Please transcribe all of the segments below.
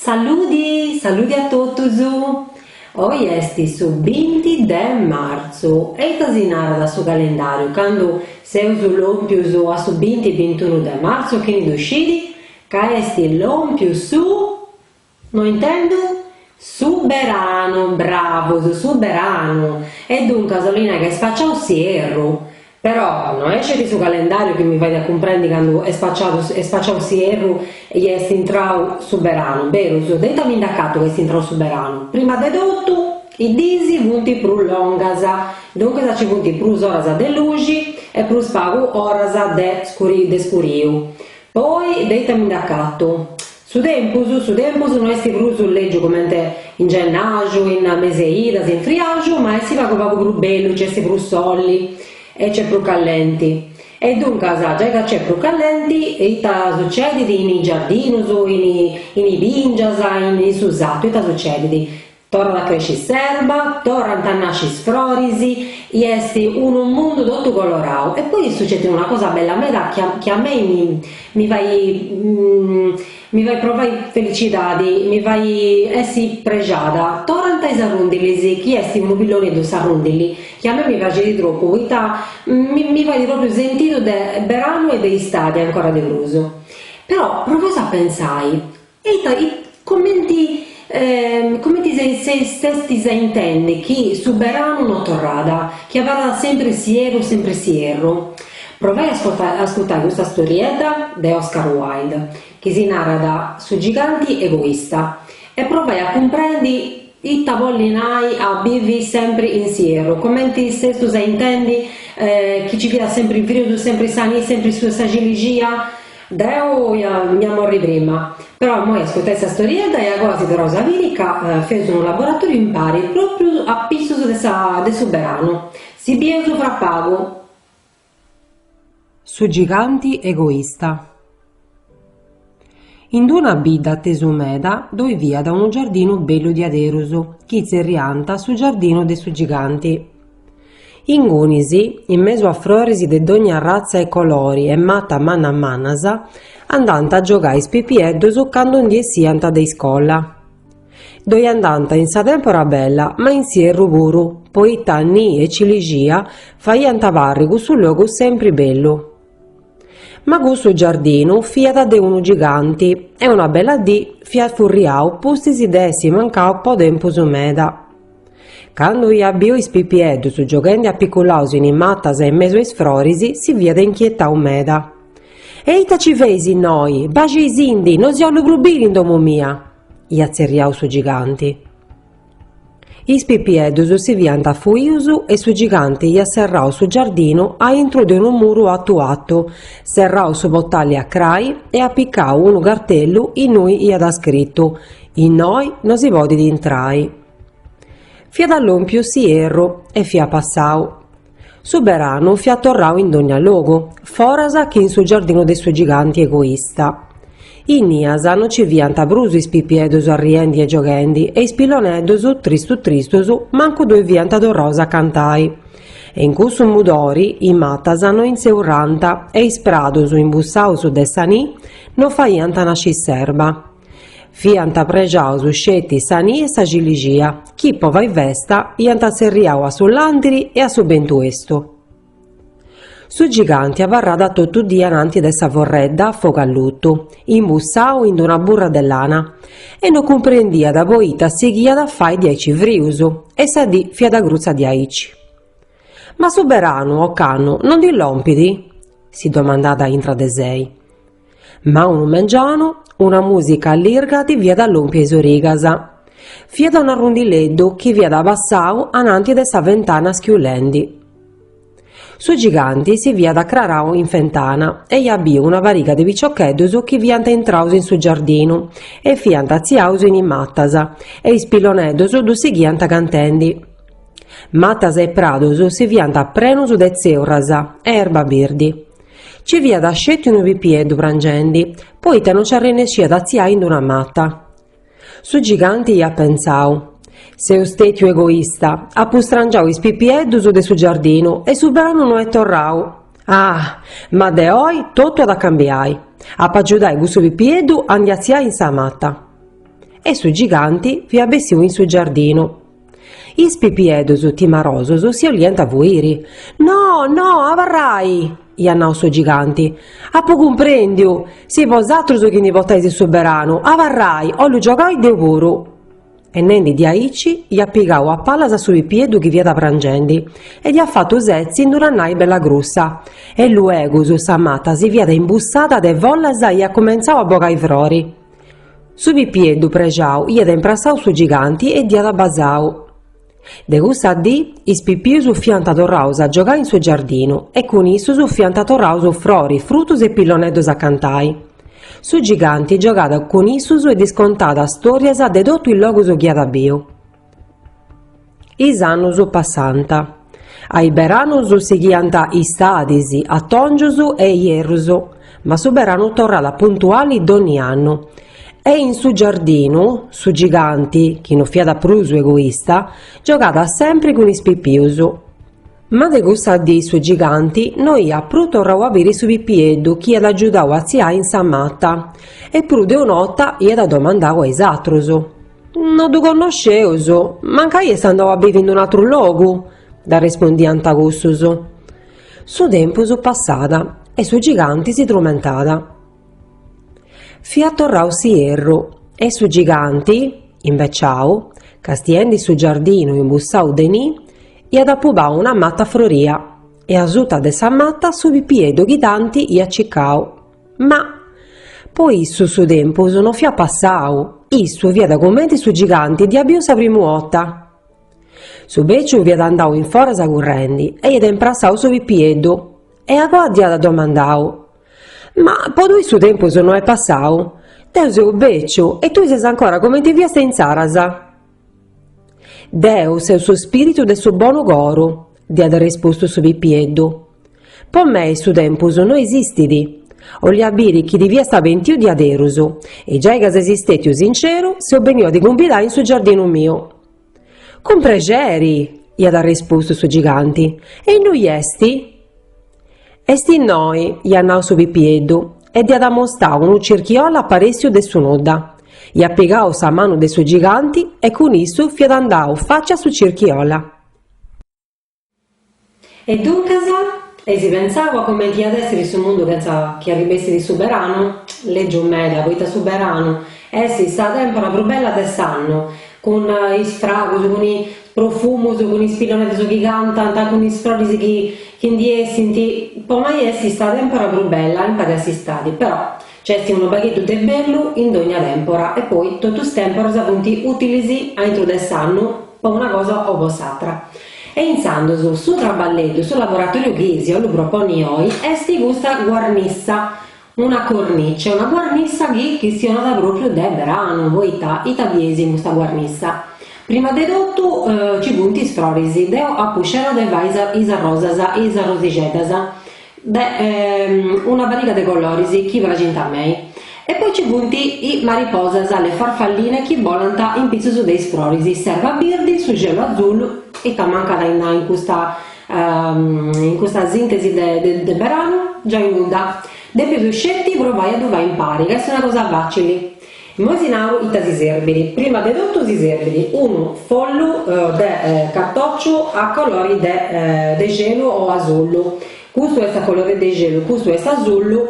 Saludi saludi a totus. Oi est su binti de martzu e ita si narat su calendàriu candu seus lòmpius a su binti, bintunu de martzu? Chini ddu scit ca est lòmpiu su No intendu? Su beranu, bravus, su beranu! E duncas 'olit nai ca est spaciau s'ierru! Però no est sceti su calendàriu chi mi fait a cumprendi candu est spaciau s'ierru e chi est intrau su beranu, berus, de ita mi nd'acatu ca est intrau su beranu, prima de totu, is diis funt prus longas, duncas ci funt prus oras de luxi e prus pagu oras de scuriu, poi de ita mi nd'acatu, Su tempus, su tempus no est prus lègiu comente in gennaju, in mese 'e idas, in friaju, ma est pagu pagu prus bellu, nci est prus soli e nc'est prus callenti. E duncas, giai ca nc'est prus callenti, ita sucedit in is giardinus, in is bìngias, in su sartu, ita sucedit? Torrat a cresci s'erba, torrant a nasci is froris, i est unu mundu totu colorau. E poi sucedit una cosa bella meda chi chi a mei mi mi fait mi fait provai felicidadi, mi fait essi prexada, torrant is arrundilis, chi est unu pilloneddu s'arrundili, chi a mei mi praxit tropu, poita mi mi fait propriu sentidu de beranu e de istadi ancora de prus. Però provaus a pensai, Ita, comenti, comenti se s'estis a intendi chi su beranu no torrat, chi abarrat sempri s'ierru, sempri s'ierru? Provai a ascoltai, a ascurtai custa storiedda de Oscar Wilde, chi si narat Su giganti egoista, e provai a cumprendi ita bolit nai a bivi sempri in s'ierru, comenti s'estus a intendi chi ci fiat sempri frius, sempri sa ni, sempri su, sa cilixia, Deu ia a morri prima. Però immoi ascurtai sa storiedda e agoa si torraus a biri ca feus unu laboratoriu impari propriu a pissus de sa de su beranu. Si bieus fra pagu. Su giganti egoista. In d'una bidda tesu meda ddoi fiat unu giardinu bellu diaderus chi tzerriant su giardinu de su giganti. Ingunis, in mesu a froris de dogna ratza e colori e matas mannas mannas, andànt a giogai is pipieddus candu ndi essiant de iscola. Ddoi andànt in sa tèmpora bella ma in s'ierru puru, poita ni e cilixia faiant parri cussu logu sempri bellu. Ma cussu giardinu fiat de unu giganti e una bella dì fiat furriau pustis de essi mancau po tempus meda. Candu hiat biu is pipieddus gioghendi apiculaus in is matas e in mesu a is froris, si fiat inchietau meda. E ita ci feis innoi? Baxeisindi, no si 'ollu prus biri in domu mia! hiat tzerriau su giganti. Is pipieddus si fiant fuius e su giganti hiat serrau su giardinu a intru de unu muru atu atu, serrau su potali a crai e apicau unu cartellu innui hiat scritu, Innoi no si podit intrai. Fiat lòmpiu s'ierru e fiat passau. Su beranu fiat torrau in dogna logu, foras chi in su giardinu de su giganti egoista. Innias no nci fiant prus is pipieddus arriendi e gioghendi e is pilloneddus, tristus tristus, mancu ddoi fiant torraus a cantai. E in cussu mudori is matas no intzeurrànt e is pradus imbussaus de sa ni no faiant nasci s'erba. Fiant prexaus sceti sa ni e sa cilixia, chi po fai festa iant tzerriau a su làndiri e a su bentu 'estu. Su giganti abarràt totu dì ananti de sa forredda fogu allutu, imbussau in d-una burra de lana, e no cumprendiat poita sighiat a fai diaici frius, e sa dì fiat grutza diaici. Ma su beranu ocannu no ndi lompit? si domandàt intra de sei. Ma unu mengianu, una mùsica allirga ddi fiat lòmpia a is origas. Fiat un'arrundileddu chi fiat passau ananti de sa fentana schiulendi. Su giganti si fiat acrarau in fentana e iat biu una pariga de piciocheddus chi fiant intraus in su giardinu e fiant atziaus in is matas e is pilloneddus ddus sighiant cantendi. Matas e pradus si fiant prenus de tzeurras e erba birdi. Nci fiat sceti unu pipieddu prangendi, poita no nci arrennesciat a atziai in d'una mata. Su giganti iat pentzau, Seu stètiu egoista, apu strangiau is pipieddus de su giardinu e su branu no est torrau. Ah! Ma de oi totu at a cambiai. Apu a agiudai cussu pipieddu a ndi atziai in sa mata. E su giganti fiat bessiu in su giardinu. Is pipieddus timarosus si 'oliant a fuiri. No, no, abarrai! iat nau su giganti. Apu cumprendiu! Seis bosatrus chi ndi botais su beranu, abarrai, 'ollu giogai deu puru! E nendi diaici, iat pigau a pallas a su pipieddu chi fiat prangendi e dd'iat fatu setzi in d'una nai bella grussa. E luegus sa mata si fiat imbussada de follas e iat cumentzau a bogai frori. Su pipieddu prexau iat imprassau su giganti e dd'iat basau. De cussa dì is pipius fiant torraus a giogai in su giardinu e cun issus fiant torraus froris, frutus e pilloneddus a cantai. Su giganti giogàt cun issus e ddis contàt stòrias de totu is logus chi iat biu. Is annus passànt. A is beranus sighiant istadis, atòngius e ierrus, ma su beranu torrat puntuali dònnia annu. E in su giardinu, su giganti, chi no fiat prus egoista, giogat sèmpri cun is pipius. Ma de cussa dì su giganti no iat prus torrau a biri su pipieddu chi iat agiudau a tziai in sa mata, e prus de un'ota iat domandau a is atrus, No ddu connosceus, mancai est andau a bivi in un'atru logu? dd'arrespondiant cussus. Su tempus passat e su giganti si trumentat. Fiat torrau s'ierru e su giganti, imbeciau, castiendi su giardinu imbussau de ni, iat apubau una mata froria e asuta de sa mata su pipieddu chi tanti iat cicau. Ma, po issu su tempus no fiat passau, issu fiat cumenti su giganti dd'iat biu sa primu 'orta. Su beciu fiat andau in foras currendi e iat imprassau su pipieddu e agoa dd'iat domandau. Ma po tui su tempus no est passau? Deu seu beciu e tui ses ancora comenti fiast insaras. Deu seu su spiritu de su bonu coru, dd'iat respustu su pipieddu. Po mei su tempus no esistit. 'olia biri chi ti fiast pentiu diaderus e giai ca ses istetiu sinceru seu beniu a ti cumbidai in su giardinu miu. Cun prexeri! iat arrispustu su giganti, e innui est? Est innoi, iat nau su pipieddu, e dd'iat amostau unu circhiolla aparessiu de su nudda. Iat pigau sa manu de su giganti e cun issu fiat andau faci a su circhiolla. E duncas, eis pentzau a comenti iat èssi su mundu chentza chi arribessit su beranu, lègiu meda, poita su beranu est sa tèmpora prus bella de s'annu, cun is fragus, cun is profumus, cun is pilloneddus chi cantant, cun is froris chi chi ndi essint, po mei est sa tèmpora prus bella, impari a s'istadi, però. Nc'est unu pagheddu de bellu in dogna tempora e poi totu is temporas funt utilis aintru de s'annu po una cosa o po s'atra. E intzandus su traballeddu, su laboratoriu chi si 'ollu proponni oi est custa guarnissa, una cornice, una guarnissa chi chistionat propriu de beranu, poita ita bieis in custa guarnissa? Prima de totu nci funt is froris, deu apu scerau de fai is arrosas, is arrosixeddas, de una pariga de coloris chi praxint a mei e poi ci funt is mariposas le farfalline chi bolant in pitzus de is froris s'erba birdi su xelu azullu ita mancat a innoi in custa in custa sintesi de de beranu giai nudda depius sceti provai a ddu fai impari ca est una cosa facili Immoi si naru ita si serbit, primu de totu si serbit unu follu de cartòciu a colori de de gelu o asullu, custu est a colori de gelu, custu est asullu,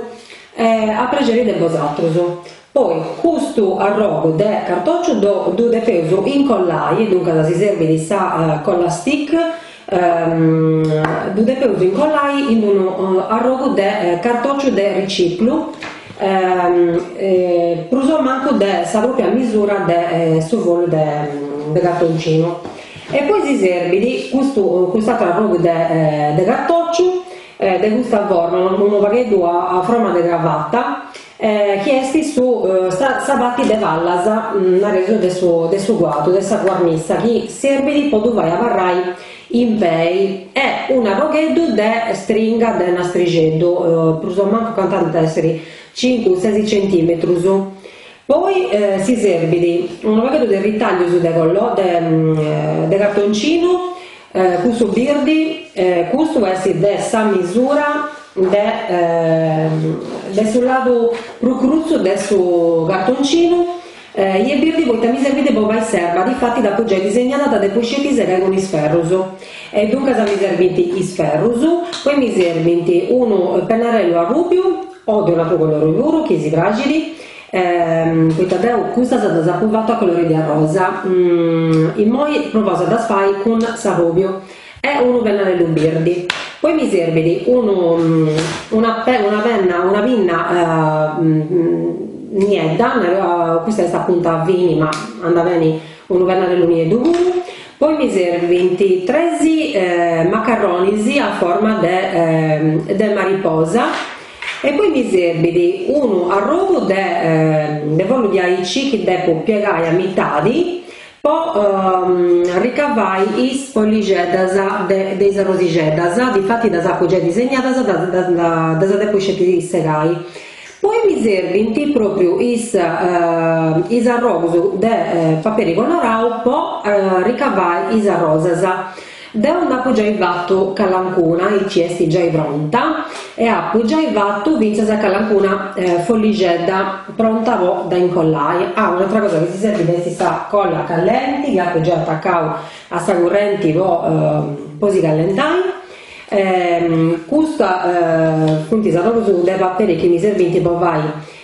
a prexeri de bosatrus, poi custu arrogu de cartòciu ddu depeus incollai e duncas si serbit sa colla stick Ddu depeus incollai in unu arrogu de cartòciu de riciclu, prus o mancu de sa pròpia misura de su follu de cartoncinu, e poi si serbit custu cust'àteru arrogu de cartòciu de custa forma, unu pagheddu a forma de cravata chi est su sa parti de palas, nareus de su de su cuadru, de sa guarnissa, chi serbit po ddu fai abarrai in pei, e unu arrogheddu de stringa de nastrixeddu, prus o mancu cantant essiri cincu sesi centimetrus, poi si serbit unu pagheddu de ritaglius de de cartoncinu, Custu birdi, custu est de sa misura de de su ladu prus crutzu de su cartoncinu, e birdi poita mi serbit po fai s'erba, difatis dd'apu giai disegnada dda depu sceti segai cun is ferrus, e duncas mi serbint is ferrus, poi mi serbint unu pennarellu arrubiu o de un'atru colori puru chi si praxit, poita deu custas ddas apu fatu a colori de arrosa immoi provaus a ddas fai cun s'arrùbiu e unu pennarellu birdi poi mi serbit unu una penna una pinna niedda custa est a punta fini ma andat beni unu pennarellu nieddu puru poi mi serbint tres macarronis a forma de mariposa E poi mi serbit unu arrogu de de follu di aici chi depu piegai a mitadi po ricavai is follixeddas de de is arrosixeddas, difatis ddas apu giai disegnadas, ddas depu sceti segai. Poi mi serbint propriu is is arrogus de paperi colorau po ricavai is arrosas Deu nd'apu giai fatu calancuna, e chi est giai pronta, e apu giai fatu fintzas calancuna follixedda pronta po dda incollai. Ah, un'atra cosa chi si serbit est sa colla callenti chi apu giai atacau a sa currenti po po si callentai. Custus funt is arrogus de paperi chi mi serbint po fai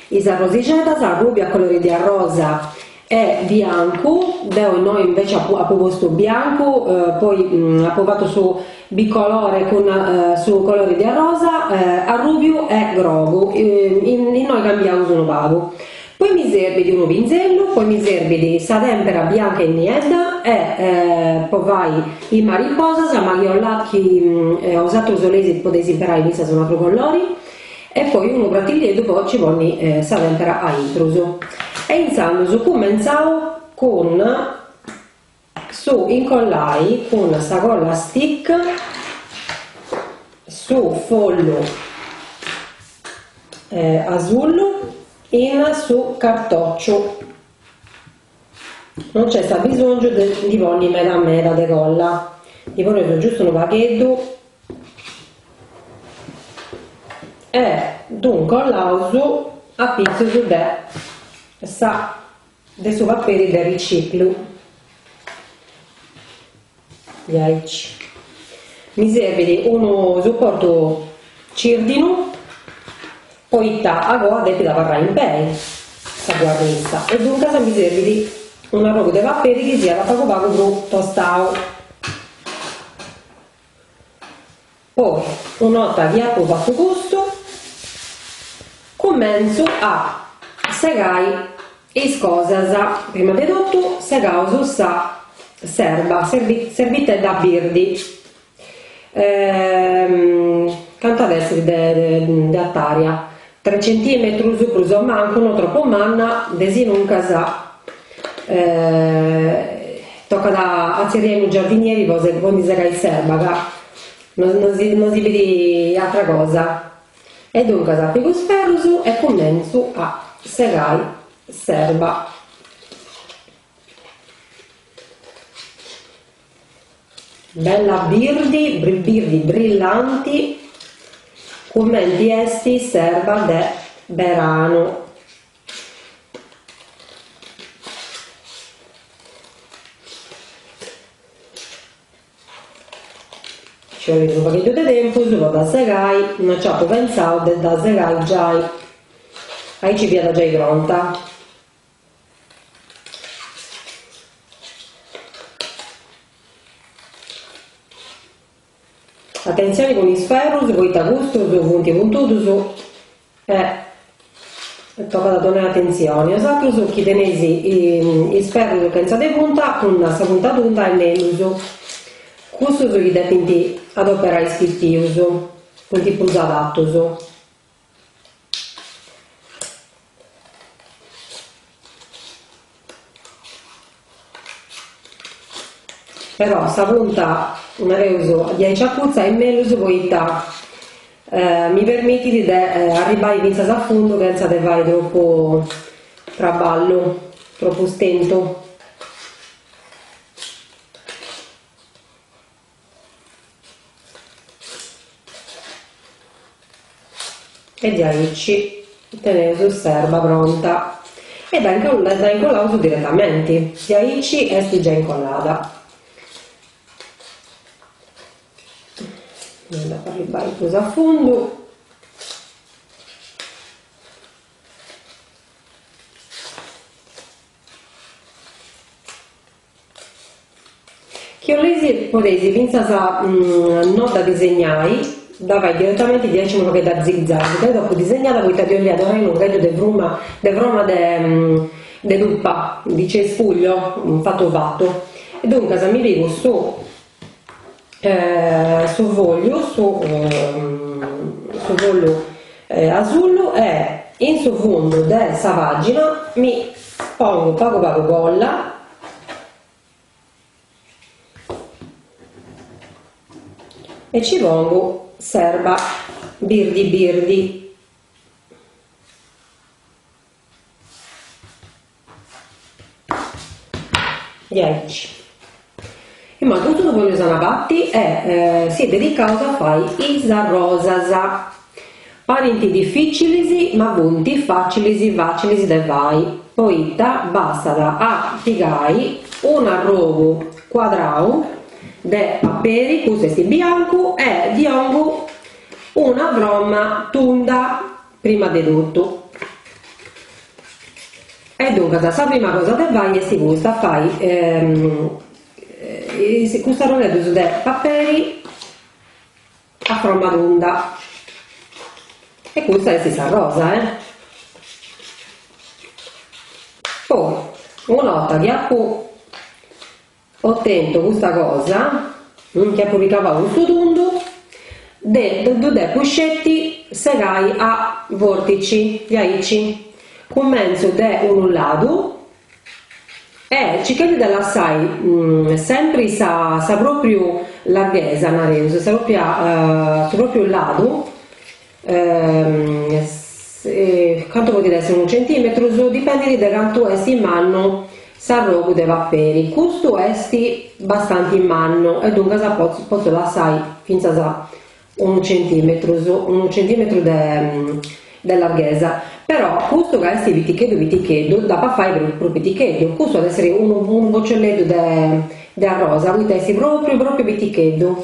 is arrosixeddas, arrùbia colori de arrosa E biancu, deo innoi invece apo postu biancu, poi apo fatu su bicolore cun su colore de arrosa arrubiu e grogu, innoi cambiaus unu pagu. Poi mi serbit unu pinzellu, poi mi serbit sa tempera bianca e niedda e po fai is mariposas, ma chi 'olat chi 'osatrus 'oleis podeis imperai fintzas un'atru colori e poi unu pratillieddu po ci ponni sa tempera a intrus e intzandus cumentzaus cun su incollai cun sa colla stick su follu asullu in su cartociu Non nc'est abbisòngiu de ndi ponni meda meda de colla, ndi poneus giustu unu pagheddu e ddu ncollaus a pitzus de su paperi de riciclu. Diaici. Mi serbit unu supportu cirdinu poita agoa depit abarrai in pei sa guarnitza e duncas mi serbit un'arrogu de paperi chi siat pagu pagu prus tostau. Poi, una 'orta chi apo fatu custu, cumentzu a segai is cosas, prima de totu segaus s'erba, s'erbitedda birdi, cant'at essi de artària, Tres centìmetrus prus o mancu, no tropu manna, desinuncas tocat a tzerriai unu giardinieri po ndi segai s'erba ca no si bit atra cosa e duncas pigu is ferrus e cumentzu a segai s'erba. Bella birdi birdi brillanti cumenti esti s'erba de beranu. Nci 'olit unu pagheddu de tempus po dda segai, no nci apu pentzau de dda segai giai, aici fiat giai pronta. Atentzioni cun is ferrus poita custus funt puntudus e tocat a donai atentzioni, 'osatrus chi teneis is ferrus chentza de punta cun sa punta tunda est mellus, cussus chi depint adoperai is pipius funt prus adatus. Però sa punta, nareus, diaici acutza est mellus poita mi permitit de arribbai fintzas a fundu chentza de fai tropu traballu, tropu stentu. E diaici teneus s'erba pronta e dda incollaus diretamenti, diaici est giai incollada. Dda fai bai prus a fundu. Chi 'olesi podesi fintzas no dda disegnai, dda fai diretamenti diaici unu pagheddu a zig-zag, deu dd'apu disegnada poita ddi 'ollia donai unu pagheddu de fruma de froma de de tupa, de cespugliu, fatu fatu, e duncas mi pigu su su fogliu su su fogliu asullu e in su fundu de sa pagina mi pongu pagu pagu colla e ci pongu s'erba birdi birdi Diaici. Imoi totu su poneus a una parti e si dedicaus a fai is arrosas. Parint dificilis ma funt facilis facilis de fai poita bastat a pigai un'arrogu cuadrau de paperi, custu est biancu, e ddi 'ongu una fromma tunda. Prima de totu. E duncas sa prima cosa de fai est custa, fai custus arrodeddus de paperi a fromma tunda e custa est sa rosa e poi una 'orta chi apu otentu custa cosa, chi apu ricavau custu tundu, ddu depu sceti segai a vortici, diaici cumentzu de unu ladu e circhendi de lassai sempri sa sa propriu larghesa, nareus, sa propria su propriu ladu cantu podit esser unu centìmetru, dipendit de cantu est mannu s'arrogu de paperi, custu est bastanti mannu e duncas potzu potzu lassai fintzas unu centìmetrus, unu centìmetru de de larghesa, però custu ca est piticheddu piticheddu dd'apo a fai prus prus piticheddu, custu at a esser unu unu bocciolleddu de de arrosa poita est pròpriu pròpriu piticheddu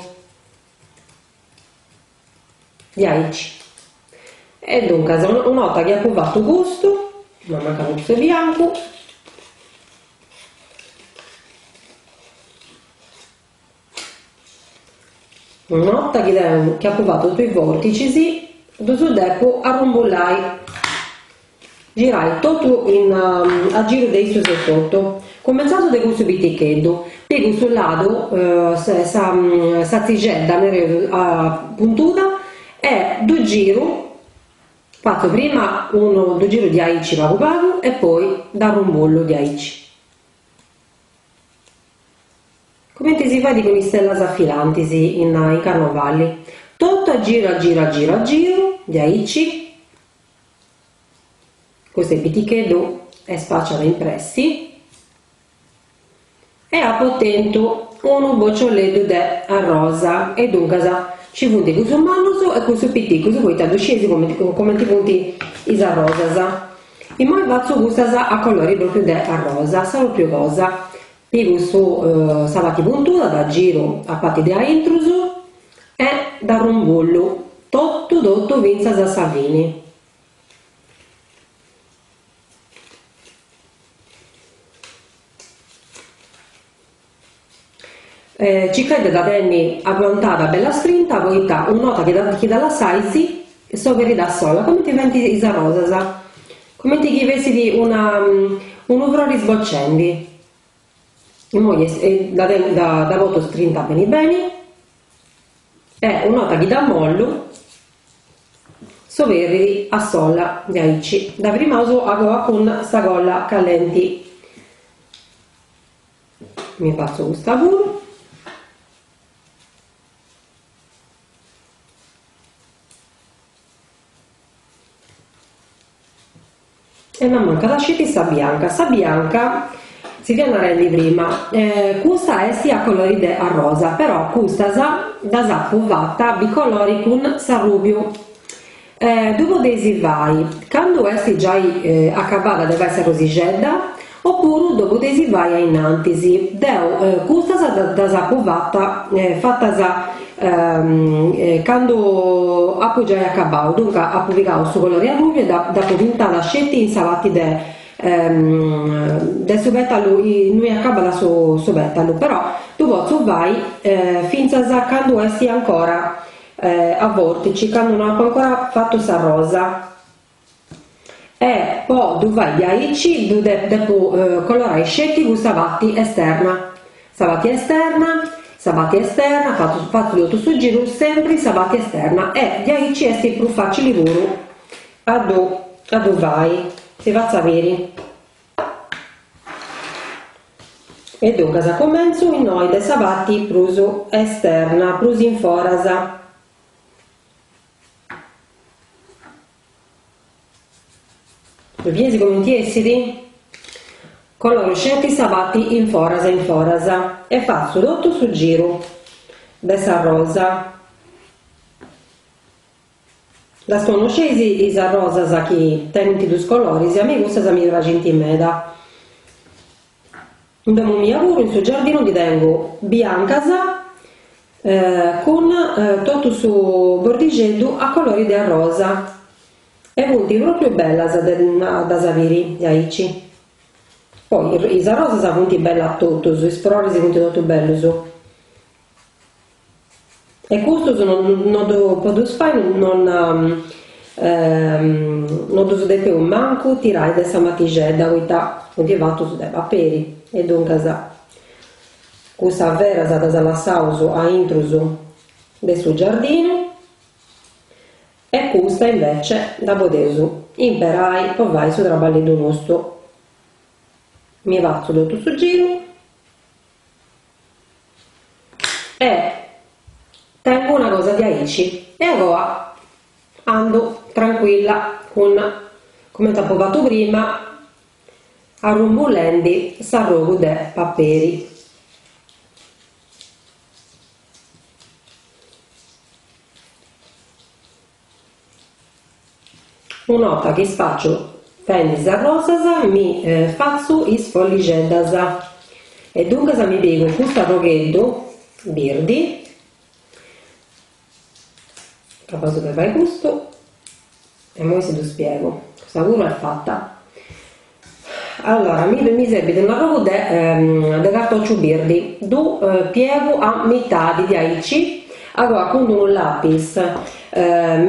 Diaici. E duncas una 'orta chi apo fatu custu, m'at mancadu custu 'e biancu, una 'orta chi deo chi apo fatu totu is vorticis ddus depu arrumbullai Girai totu in a giru de issos etotu. Cumentzaus de cussu piticheddu, pigu su ladu sa ziredda, nareus, puntuda e ddu giru, fatzu prima unu ddu giru diaici pagu pagu e poi dd'arrumbullu diaici, cumenti si fait cun is stellas filantis in carnovali, totu a giru a giru a giru a giru diaici, Custu est piticheddu est spaciau in pressi. E apo tentu unu bocioleddu de arrosa e duncas ci funt cussus mannus e cussus piticus poita ddu sciesi comenti funt is arrosas. Immoi fatzu custas a colori pròpriu de arrosa, sa pròpriu cosa. Pigu sa pati puntuda da giru a pati de aintrus e d'arrumbullu totu totu fintzas a sa fini. Circais de da tenni aguantada bella strinta poita un'ota chi da lassais s'oberit a sola, comenti faint is arrosas. Cumenti chi fessit una unu frori sboccendi. Immoi est e dda tengo dda dda poto strinta beni beni e una 'orta chi dda mollu s'oberridi a sola diaici dda firmaus agoa cun sa colla callenti. Immoi fatzo custa puru. E no mancat asceti sa bianca. Sa bianca si fiat narendi prima, custa esti a colori de arrosa, però custas ddas apu fatta bicolori cun s'arrubiu. Ddu podeis fai candu esti giai acabada de fai s'arrosixedda O puru dopu de si fai a innantis. Deu custas ddas apu fata fatas candu apu giai acabau, duncas apu pigau su colori arrubiu e dd'apu pintada sceti in sa parti de de su petalu innui acabat su petalu, però ddu potzu fai fintzas candu est ancora a vortici, candu no apu ancora fatu sa rosa. E po ddu fai diaici ddu depu colorai sceti cun sa parti esterna, sa parti esterna, sa parti esterna, fatzu totu su giru sempri sa parti esterna e diaici est prus facili puru a ddu a ddu fai, si fatzu biri. E duncas cumentzu innoi de sa parti prus esterna, prus in foras. Ddu bieis comenti essit? Coloru sceti sa parti in foras e in foras e fatzu totu su giru de sa rosa. Ddas connosceis is rosas chi tenint dus coloris? A mei cussas mi praxint meda. In domo mia puru in su giardinu ndi tengu biancas cun totu su bordixeddu a colori de arrosa e funt propriu bellas de ddas biri aici. Poi is arrosas funt bellas totus, is froris funt totus bellus. E custas no ddu podeus fai no ddus depeus mancu tirai de sa matixedda poita funt fatus de paperi e duncas cussas beras ddas lassaus aintrus de su giardinu e custa invece dda podeus imperai po fai su traballeddu nostu mi fatzu totu su giru E tengu una cosa diaici. E agoa andu trancuilla cun, comente apo fatu prima, arrumbullendi s'arrogu de paperi. Una 'orta chi fatzu beni is rosas, mi fatzu is follixeddas e duncas mi pigu custu arrogheddu birdi, apu a depi fai custu, e immoi si ddu spiegu, cussa puru est fata. Allora mi mi serbit unu pagu de cartòciu birdi, ddu piegu a mitadi diaici, agoa cun d'unu lapis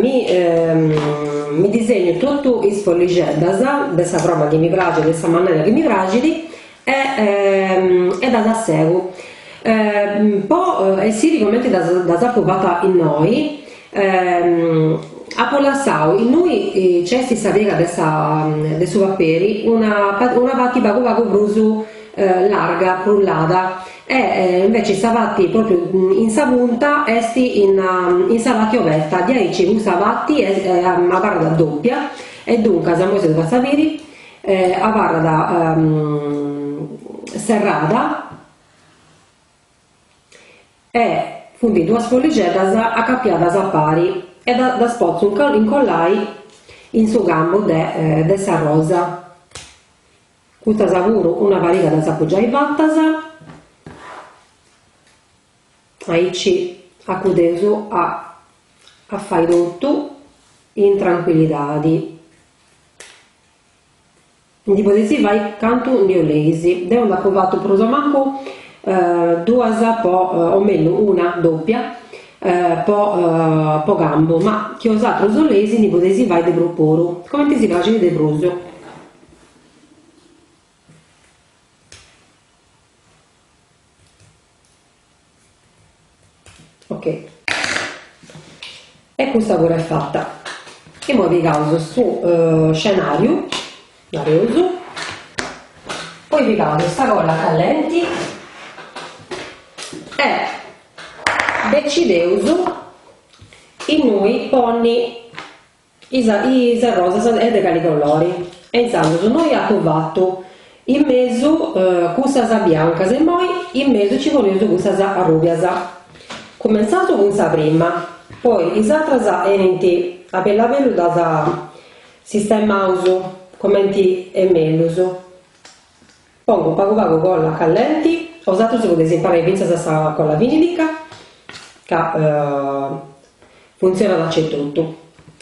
mi mi disegnu totu is follixeddas de sa froma chi mi praxit e in sa manera chi mi praxit e e ddas segu po essiri cumenti ddas apu fatas innoi Apo lassadu innui nc'est sa piega de sa de su paperi una una pati pagu pagu prus larga frullada e inveci sa pati propriu in sa punta est in in sa pati oberta diaici custa pati est abarrada doppia e duncas immoi si ddu fatzu a biri abarrat serrada E funt duas follixeddas acapiadas a pari e ddas potzu incollai in su cambu de sa rosa. Custas puru una pariga ddas apu giai fatas, aici acudeus a fai totu in trancuillidadi. Ndi podeis fai cantu ndi 'oleis. Deu nd'apo fatu prus o mancu duas po o mellus una dòpia po po cambu, ma chi 'osatrus 'oleis ndi podeis fai de prus puru, comenti si praxit de prus. Ok. E custa puru est fata. Imoi pigaus su scenàriu, nareus, poi pigaus sa colla callenti e decideus innui ponni Is rosas e de cali colori. E intzandus innoi apu fatu in mesu cussas biancas e immoi in mesu ci poneus cussas arrùbias. Cumentzaus cun sa prima, poi is atras 'enint a bellu a bellu ddas sistemaus comenti est mellus. Pongo pagu pagu colla callenti, 'osatrus podeis imperai fintzas a sa colla vinilica ca funtzionat acetotu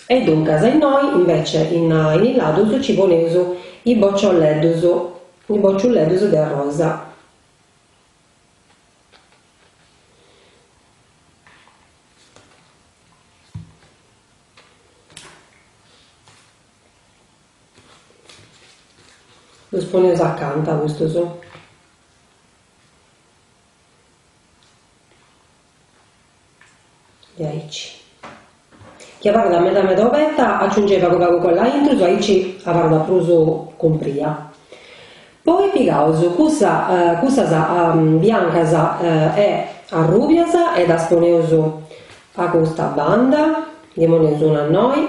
e duncas innoi invece in is ladus nci poneus is bocciolleddus, is bocciolleddus de arrosa. Ddus poneus acanta custus. Diaici. Chi abarrat meda meda obeta aciungeis pagu pagu colla aintrus aici abarrat prus cumpria. Poi pigaus cussa cussas biancas e arrubias e ddas poneus a custa banda, ndi poneus una innoi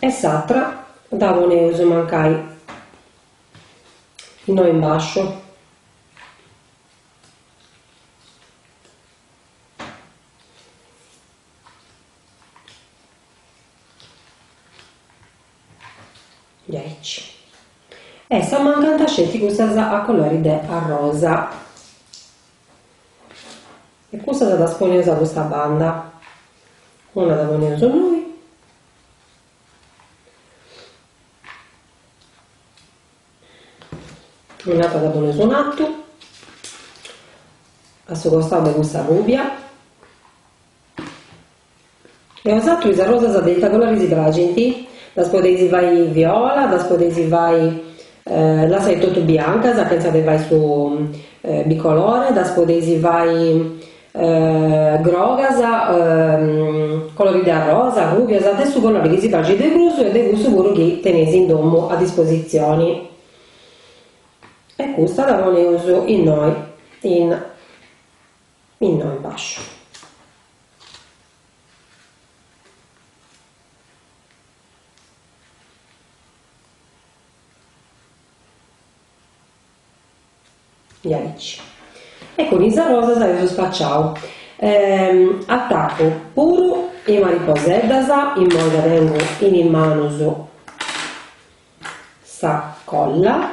E s'atra dda poneus mancai innoi in basciu. Diaici. E si mancant sceti cussas a colori de arrosa. E cussas ddas poneus a custa banda. Una dda poneus innoi. Un'atra dda poneus in atu. A su costau de cussa rubia. E a bosatrus is arrosas de ita colori si praxint? Ddas podeis fai viola, ddas podeis fai lassai totu biancas chentza de fai su bicolore, ddas podeis fai grogas colori de arrosa, arrubias, de su colori chi si praxit de prus e de cussu puru chi teneis in domu a dispositzioni e custa dda poneus innoi in Innoi in basciu. E aici. E cun is arrosas eus spaciau. Attaccu puru is mariposeddas, immoi dda tengu in is manus sa colla.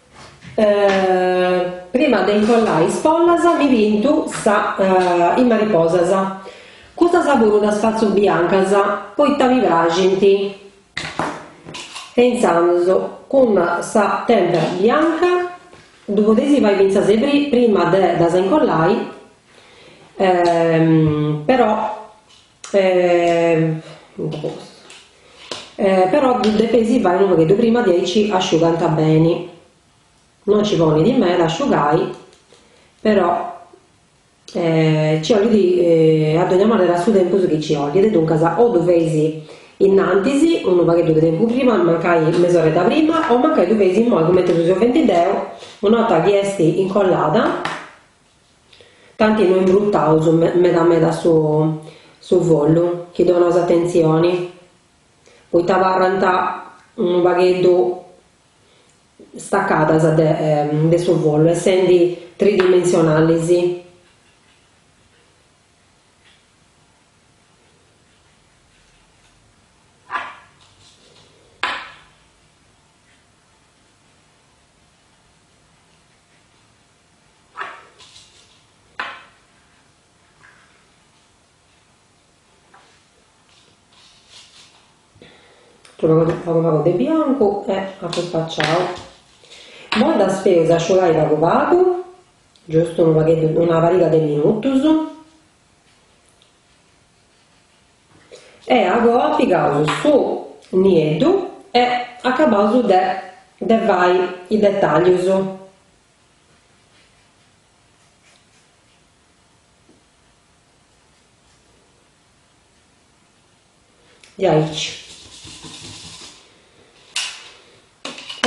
Prima de incollai is follas mi pintu is mariposas. Custas puru ddas fatzu biancas poita mi praxint. E intzandus cun sa tempera bianca ddu podeis fai fintzas prima de ddas incollai però E però ddu depeis fai unu pagheddu prima diaici asciugant beni no ci ponit meda a asciugai però ci ollit a dogna manera su tempus chi ci ollit duncas o ddu feis innantis unu pagheddu de tempus prima mancai mesoredda prima o mancai ddu feis immoi cumenti ddu seu fendi deu una 'orta chi est incollada T'ant no imbrutaus meda meda su follu chi donaus atentzioni, poita abarrant unu pagheddu staccadas de de su follu essendi tridimensionalis. Adonados de biancu e apu spacciau. Moi ddas feus asciugai pagu pagu, giustu unu pagheddu, una pariga de minutus. E agoa pigaus su nieddu e acabbaus de de fai is dettaglius. Diaici.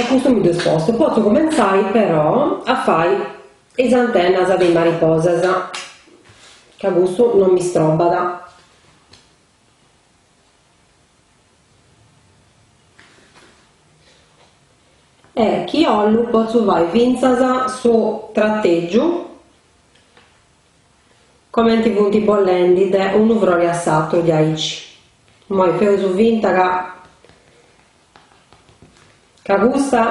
Custu mi dd'est postu. Potzu cumentzai però a fai is antenas de is mariposas ca custu non m'istrobbat. E chi 'ollu potzu fai fintzas su tratègiu comenti funt bolendi de unu frori a s'atru diaici. Moi feus finta ca ca custa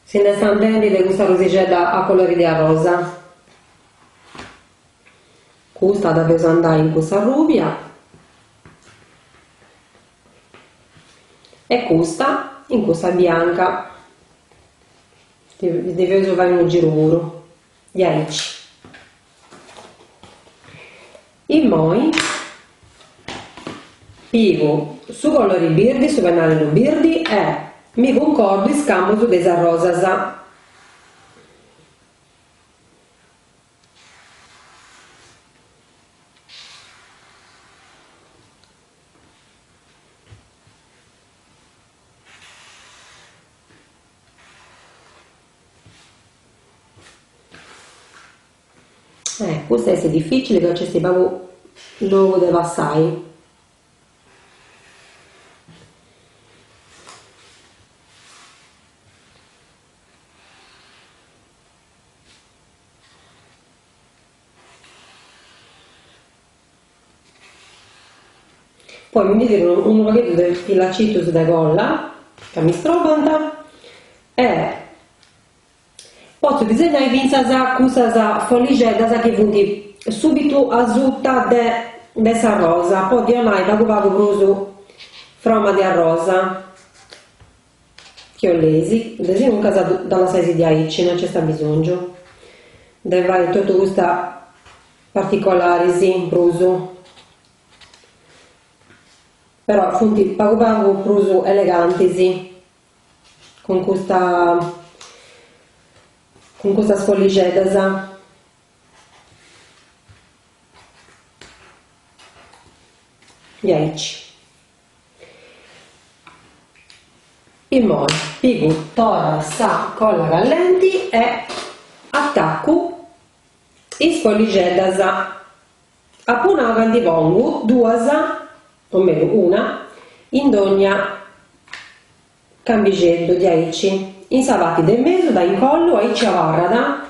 si nd'est andendi de custa rosixedda a colori de arrosa. Custa dda deus andai in cussa rubia e custa in cussa bianca. Ddi feus fai unu giru puru. Diaici. Immoi pigu su colori birdi, su pennarellu birdi e mi cuncordu is camus de is arrosas. Eh, custa est difficile ca nc'est pagu logu de passai. Poi mi ndi tiru unu pagheddu de filacitus de colla ca mi strobant e potzu disegnai fintzas cussas folixeddas chi funt subitu asuta de de sa rosa po ddi 'onai pagu pagu prus froma de arrosa Chi 'oleis, desinuncas dda lassaisi diaici, no nc'est abbisòngiu de fai totu custa particolàrisi in prus, però funt pagu pagu prus elegantis cun custa cun custas follixeddas diaici Immoi pigu torra sa colla callenti e attaccu is follixeddas. Apu nau ca ndi pongu duas, o menu una, in dogna. Cambixeddu, diaici, in sa parti de mesu, dda incollu, aici abarrat,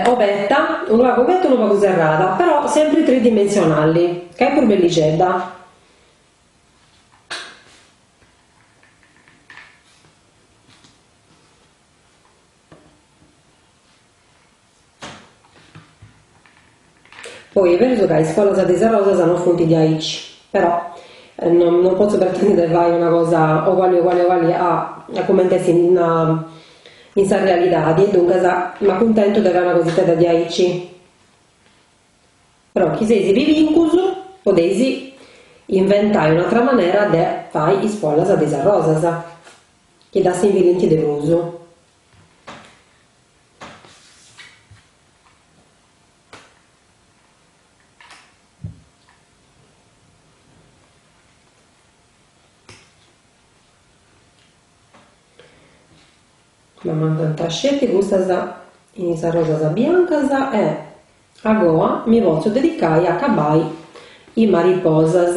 obetta, unu pagu obetta e unu pagu serrada, però sempri tridimensionalli, ca est prus bellixedda. Poi est berus ca is follas de is arrosas no funt diaici, però no no potzu pretendi de fai una cosa oguali oguali oguali a a cumenti est in in sa realidadi e duncas m'acuntentu de fai una cositedda de diaici, però chi seis pibincus podeis inventai un'atera manera de fai is follas de is arrosas. Chi dda assimbillint de prus. M'amancant sceti custas in is arrosas biancas e agoa mi potzu dedicai a acabai is mariposas.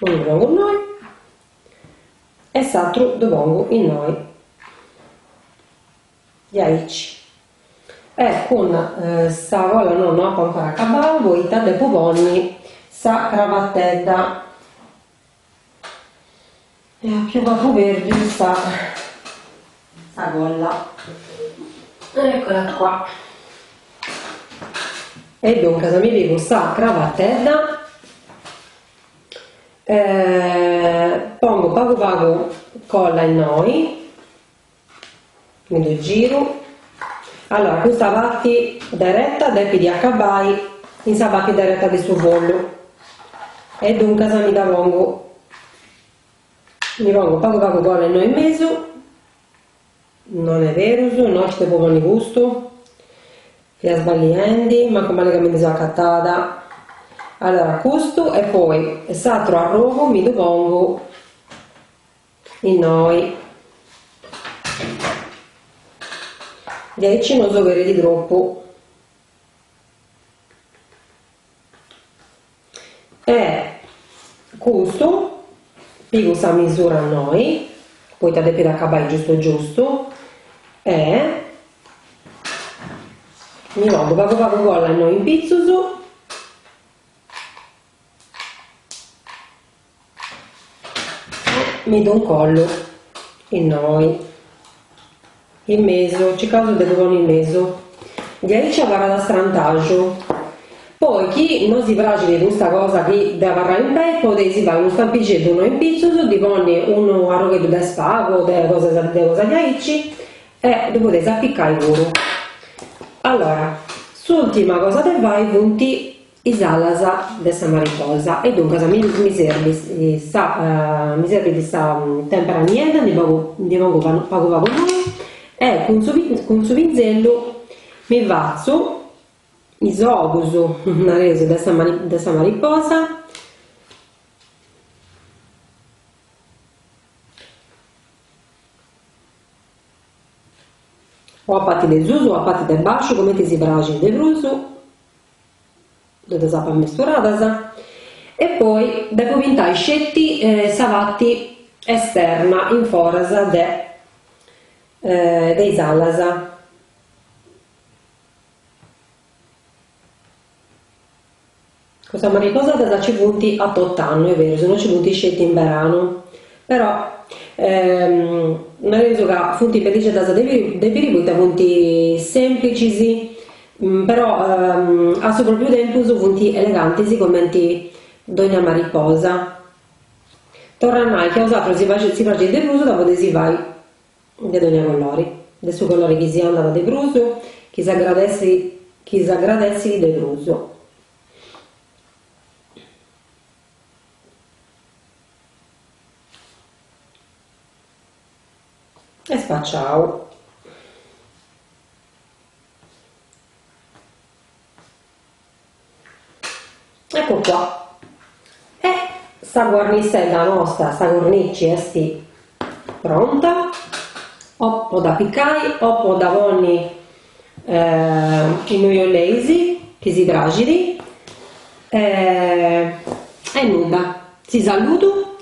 unu ddu pongu innoi e s'atru ddu pongu innoi diaici e cun sa colla no no apo ancora acabau poita depu ponni sa cravatedda E biu ca apu perdiu sa sa colla. Eccola qua. E duncas mi pigu sa cravatedda e pongu pagu pagu colla innoi. Mi ddu giru. Allora, custa parti dereta depit acabai in sa parti dereta de su follu e duncas mi dda pongu, mi pongu pagu pagu cola innoi in mesu, non est berus, no nci depu ponni custu, fia sballiendi, mancu mali ca mi ndi seu acatada, allora custu e poi s'atru arrogu mi ddu pongu Innoi. Diaici no s'oberit tropu. E custu pigu sa misura innoi, poita depit acabai giustu giustu e mi pongu pagu pagu colla innoi in pitzus. mi ddu incollu innoi in mesu, circaus de ddu ponni in mesu diaici abarrat a strantaju poi chi non si praxit custa cosa chi depit abarrai in pei podeis fai unu stampixeddu no in pitzus ddi ponni unu arrogheddu de spagu o de cosa de cosa diaici e ddu podeis apicai puru allora s'ultima cosa de fai funt is alas de sa mariposa e duncas mi mi serbit sa tempera niedda ndi pagu ndi pongu pagu pagu innoi e cun su cun su pinzellu mi fatzu is ogus nareus de sa de sa mariposa o a parti de susu o a parti de basciu cumenti si praxit de prus ddas apu mesturadas e poi depu pintai sceti sa parti esterna in foras de de is alas, custas mariposeddas ci funt a tot'annu est berus no ci funt sceti in beranu, però nareus ca funt perdixedas de de piri poita funt semplicis Però a su pròpiu tempus funt elegantis comenti dònnia mariposa. Torru a nai chi a bosatrus si si praxit de prus dda podeis fai de dònnia colori, de su colori chi si andat de prus, chi s'agradessi chi s'agradessit de prus. E spaciau. Eccu qua. E sa guarnissedda nosta, sa cornici est pronta, o po dd'apicai o po dda ponni innui 'oleis chi si praxit e nudda, si saludu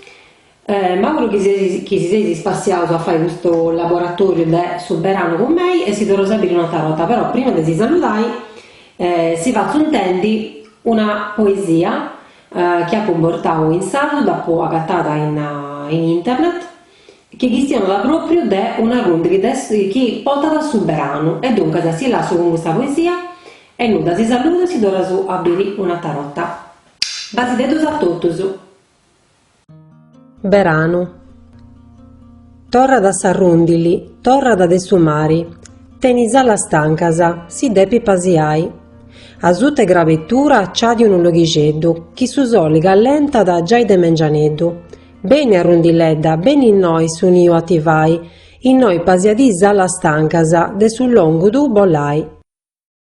M'auguro chi si seis ispassiaus a fai custu laboratòriu de su beranu cun mei e si torraus a biri un'atra borta, però prima de si saludai si fatzu intendi una poesia chi apu portau in sardu, dd'apu agatada in internet, chi chistionat pròpriu de un'arrùndini chi portat su beranu e duncas si lassu cun custa poesia e nudda, si saludu e si torraus a biri un'atra borta. Basideddus a totus. Beranu. Torrat s'arrùndili, torrat de su mari, tenit is alas stancas, si depit pasiai. Asut'e grabetura nci at unu loghixeddu chi su soli callentat giai de mengianeddu. Beni arrundiledda, beni innoi su niu a ti fai, innoi pasiadì is alas stancas de su longu bolai.